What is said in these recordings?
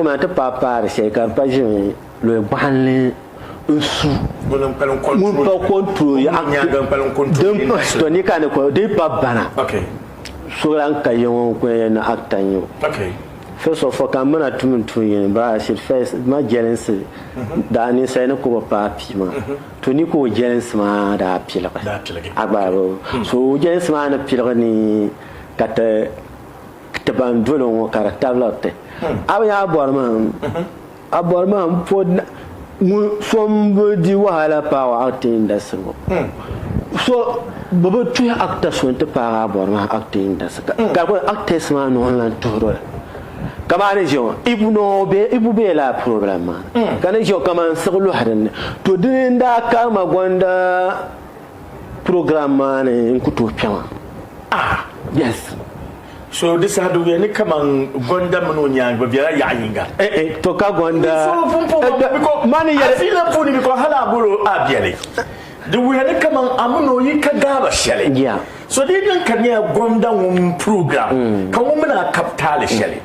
Ŋuna ti paai paari shɛli ka di pa ʒiri lɔya bɔɣinli n-su ŋun pa control act din pa sitɔ ni ka ni kɔli din pa bana so lan ka ya ŋɔ n-kuli ya ni act n-nyɛ o. First of all ka m mina tum n tuun yini but I should first ma jɛlinsi daa ninsali ni ka o bi paai pii maa to ni ka o jɛlinsi maa daa piligi a gbaai bɛ so o jɛlinsi maa ni piligi ni ka ti Ti ban dolo ŋɔ ka di tabili ti. A bi nya a bɔri maa? A bɔri maa n po na ŋun so n bi di wahala paagi acting industry ŋɔ. So bi bi tuhi actor so n ti paagi a bɔri maa acting industry ka ka kuli actors maa noo n lan tuhiri o la. Ka maa ni ʒe ŋɔ ibu noo be ibu be la problem maa ni ka ni ʒe ŋɔ ka man siɣi lɔhi din ni. To dini n daa karima gɔnda. Program maa ni n ku tooi kpɛma. Ah, yes. So di saha di wuya ni kaman Gonda mini o nyaangi bi bela yaɣa yinga. Eh, eh, to ka Gonda. So pun po ma mi biko a fiila puuni biko hali a bol o a beli. Di wuya ni kaman a mini o yi ka gaaba sheli. Yeah. So di yi niŋ ka nya Gonda ŋun program ka ŋun mini a kab taali sheli.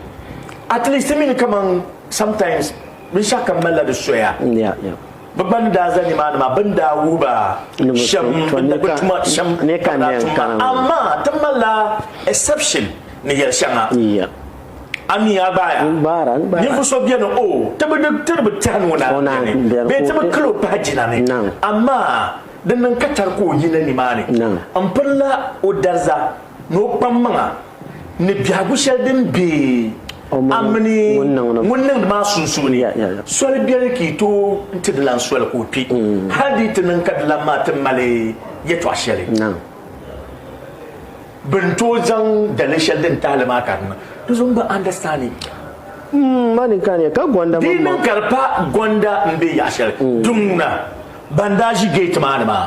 At least ti mi ni kaman sometimes binshɛɣu kam malila di soya. Yeah, yeah. Bɛ gba ni daa za nimaani maa, bɛ ni daa wuhi ba shɛm bɛ ni bi tuma shɛm ka bɛ daa tum ba. Amaa ti malila exception ni yɛli shɛŋa. A mi a gbaaya. Ninvuɣ so beni o ti bi di tiri bi tɛhi ni o naai beni, bee ti bi kil o pahi jina ni, amaa di niŋ ka tari ka o yina nimaani m-pirila o dariza ni o kpammaŋa. ni biɛhigu shɛli din be a mini ŋun niŋdi maa sunsuuni, soli beni ka yi tooi ti di lan soli ka o kpi, mm. hal di yi ti niŋ ka di lan maa ti mali yɛtɔɣ shɛli. Bɛ ni tooi zaŋ daliri shɛli din tahi li maa ka di niŋ. Di zuɣu m-bi understanding. Mm, ma ni kani, ka gɔnda mini Di niŋ ka di pa gɔnda m-be yaɣ shɛli. Mm. Di ŋuna, ban daa ʒi gate maa ni maa.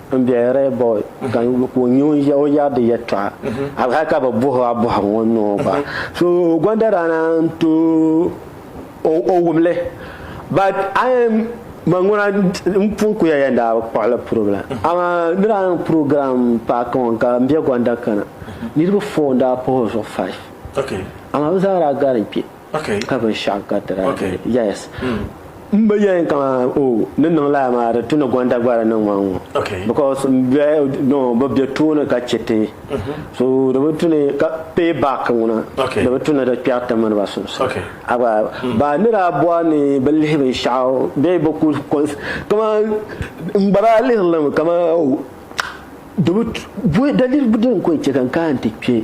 n be Rehobot ka o nya o ya o yaɣidi yɛtɔɣa hali hali ka bi buhi o a bɔhiri ŋɔ n niŋ o gba so gɔnda daa na n to o wumli but a yɛn man ŋuna n pun ku ya yɛn daa bi kpuɣili puribila amaa di daa niŋ program paaki ŋɔ ka n be gɔnda kana niriba four n daa puhi o zuɣu five amaa bi zaa daa gari n kpe Ka binshɛɣu garitira dini. Yes. M ba yɛli kaman o ni niŋ lala maa di tu ni Gwanda Gbara niŋ ma ŋɔ because m bɛ no bɛ bɛ tooni ka chɛ ti so di bi tu ni ka pay back ŋuna di bi tu ni di kpɛri ti mini ba sunsuuni. A gba baa ni daa bɔri ni bɛ lihi binshɛɣu bee bɛ ku kaman m gba daa lihiri li mi kaman o di bi tu daliri din ku n chɛ ka n kana nti kpɛ.